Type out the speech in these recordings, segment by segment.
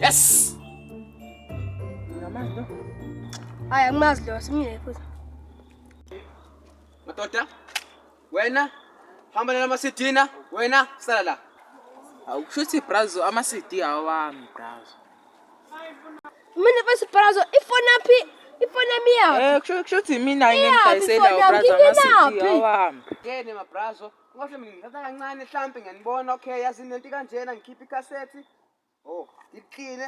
Yes! Ngamandla. Hayi angimazi lo simile futhi. Madoda. Wena hamba nala masidina, wena sala la. Awukushuthi brazo ama CD awami brazo. Mina bese brazo ifona phi? Ifona miya. Eh kushuthi mina ngiyidayisela brazo ama CD awami. Ngene mabrazo. Ngohle mina ngithatha kancane hlampe ngiyanibona okay yazi nento kanjena ngikhipha ikhasethi. Oh, iqine.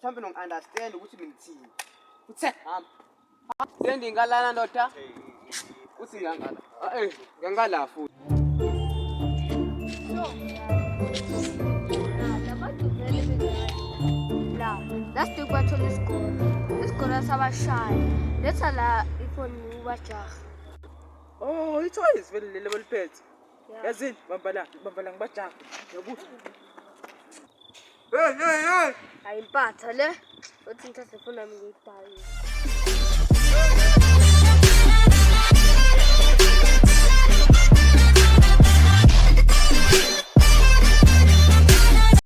Hlampe nong understand ukuthi mina ngithini. Uthe hamba. Sendi ngalana ndoda. Uthi ngangala. Eh, ngangala futhi. La, that's the battle is good. This good as our shine. Let's allow if we move a Oh, ithoyizi vele leli abaliphethe. Yazini, bamba la, bamba la ngibajaka. Yabuza. Hey, hey, hey. Ayimpatha le. Uthi ngithathe ifoni yami ngiyidayise.